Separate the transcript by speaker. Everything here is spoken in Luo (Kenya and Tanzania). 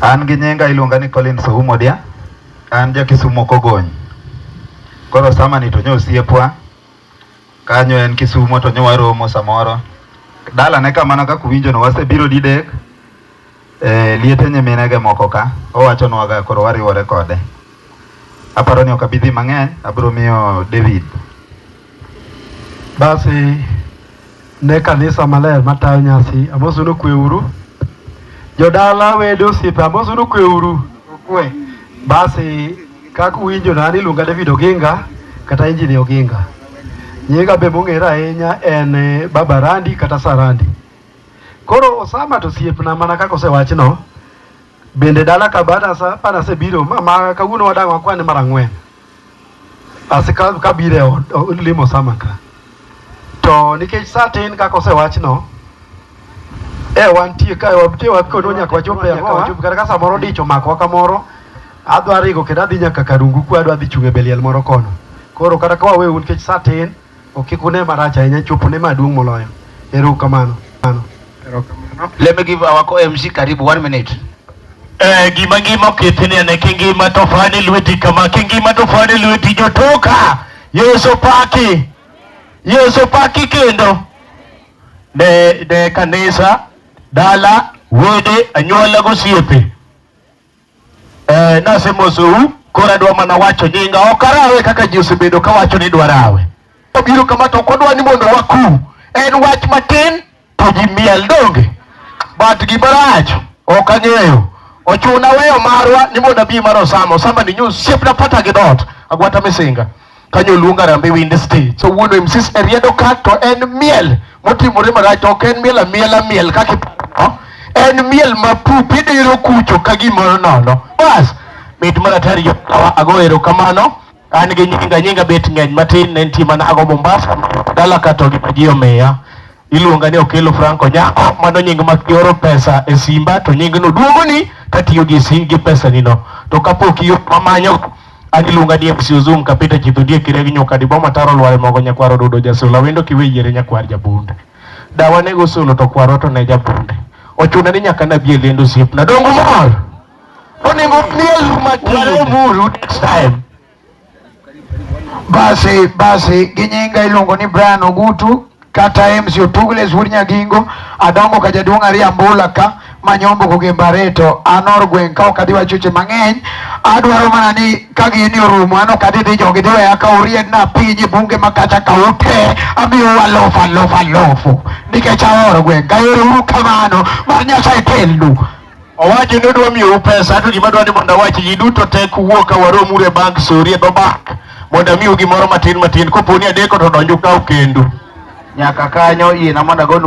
Speaker 1: An gi nyinga iluonga ni Collins Oumo Odia. An ja Kisumo Kogony. Koro sama ni to nyo osiepwa. Kanyo en Kisumo to nyo waromo samoro. Dala ne kamano kaka uwinjo no wasebiro didek. Eh, liete nyiminege moko ka. Owachonwaga koro wariwore kode. Aparo ni ok abi dhi mang'eny, abiro miyo David. Basi ne kanisa maler matayo nyasi, amosu ni okweuru. Jodala wede osiepe, amosu ni okweuru. Okwe. Basi kaka uwinjo na ni iluonga David Oginga kata Injini Oginga. Nyinga be mong'ere ahinya en eh, Baba Randi kata Sarandi. Koro Osama to osiepna mana kaka osewachno, Bende dala ka bana asa bana se biro ma, ma kawuono wadang' wakwane mara ng'wen. Asi ka, ka biro e od o- limo sama ka. To nikech sa tin kaka osewachno, e wantie ka wabtie wakono nyaka wachop e ang'owa wachop kata ka samoro dich omakowa kamoro adwa ringo kendo adhi nyaka karungu kwa adwa dhi chung' e beliel moro kono. Koro kata ka wawe un nikech sa tin Ok kik une marach ahinya chopo ne maduong' moloyo. Ero kamano. Ano. Ero kamano. Let me give our co-MC karibu one minute. Eh, gima ngima okethini ane kingima to fani lweti kama kingima to fani lweti jotoka Yesu paki Yesu paki kendo ne ne kanisa dala wede anyuola gosiepe Eh, nase mosou koro adwa mana wacho nyinga ok arawe kaka ji osebedo ka wacho ni dwarawe obiro kama to ok odwa ni mondo wakum en wach matin to ji miel donge but gimarach ok ang'eyo ochuna weyo marwa ni mondo abi mar osama osama ni nyu siepna pata gi dot agwata misinga kanyo oluong Harambee Winds Day. So wuon MCs e riedo ka to en miel motimore marach to ok en miel amiela miel kaka iparo. En miel ma pup idiro kucho ka gimoro nono. Bas, mit maratari jo kawa ago erokamano. An gi nyinga nyinga bet ng'eny matin ne nitie mana ago Mombasa dala ka to gima ji omiya. iluonga ni Okello Franco Nyako, mano nying ma kioro pesa e simba to nyingno duogoni katiyo gi si gi pesa nino. To kapok iyo mamanyo adiluonga ni MC Uzum kapita chitho die kire gi nyoka di boma taro lware mogo nyakwaro dudo jasola wendo kiwe yere nyakwar jabunde. Dawa ne gosolo to kwaro to ne jabunde. Ochuna ni nyaka na bie lendo siep na dongo mor. Onego miel ma kare muru next time. Basi basi ginyinga iluongo ni Brian Ogutu kata Ems Otugle Sur Nyagingo adongo ka jaduong' ariyo ambula ka manyombo goge mbareto anor gweng' ka ok adhi wacho che mang'eny adwaro mana ni ka gini orumo an ok adhi dhi jogi dhi weya ka uried na piny e bunge ma kata ka ute amiyo walofa lofa lofu nikech ahoro gweng' kaero uru kamano mar Nyasaye telnu Owacho ni odwa miyou pesa to gima dwa ni mondo awachi ji duto tek wuo ka warom ure bank sori e dho bank mondo amiu gimoro matin matin koponi adeko to donju ka okendu nyaka kanyo ina mondo agonu